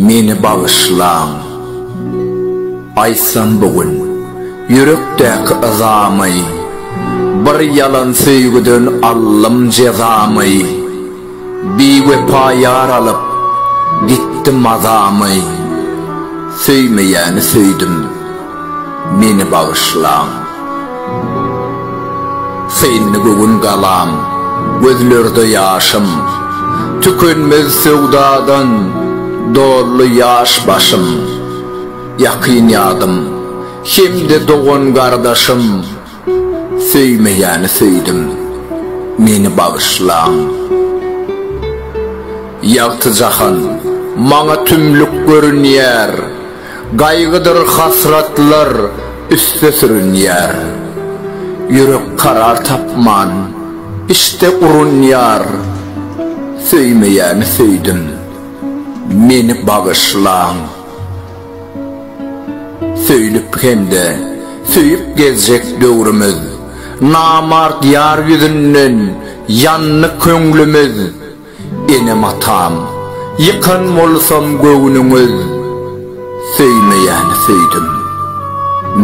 Meni bagyşlaň. Aýtsam bu gün ýürekdäki yzamy, Bir ýalan söýgüden aldym jezamy. Biwepa ýar alyp, gitdi mazamy, Söýmeýäni söýdüm, meni bagyşlaň. Syndy göwün galam, gözlerde ýaşym, Tükenmez söwdadan doldy ýaş başym. Ýakyn ýadym hem-de dogan-gardaşym, Söýmeýäni söýdüm, meni bagyşlaň. Ýagty jahan maňa tümlük görünýär, Gaýgydyr hasratlar üste sürünýär. Ýürek karar tapman, içde urunýar, Söýmeýäni söýdüm, meni bagyşlaň. Söýlüp hem-de söýüp gezjek döwrümiz, Namart ýar ýüzünden ýandy köňlümiz. Enem-atam, ýykan bolsam göwnüňiz, Söýmeýäni söýdüm,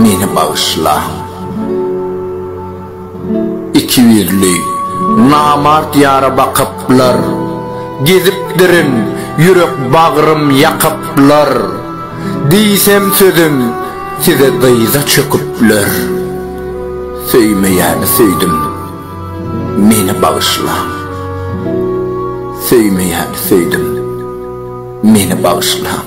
meni bagyşlaň. Iki ýüzli, namart ýara bakyplar, Gezipdirin, ýürek bagrym ýakyplar, Diýsem sözüm, size dyza çöküpler. Söýmeýäni söýdüm, meni bagyşlaň, Söýmeýäni söýdüm, meni bagyşlaň.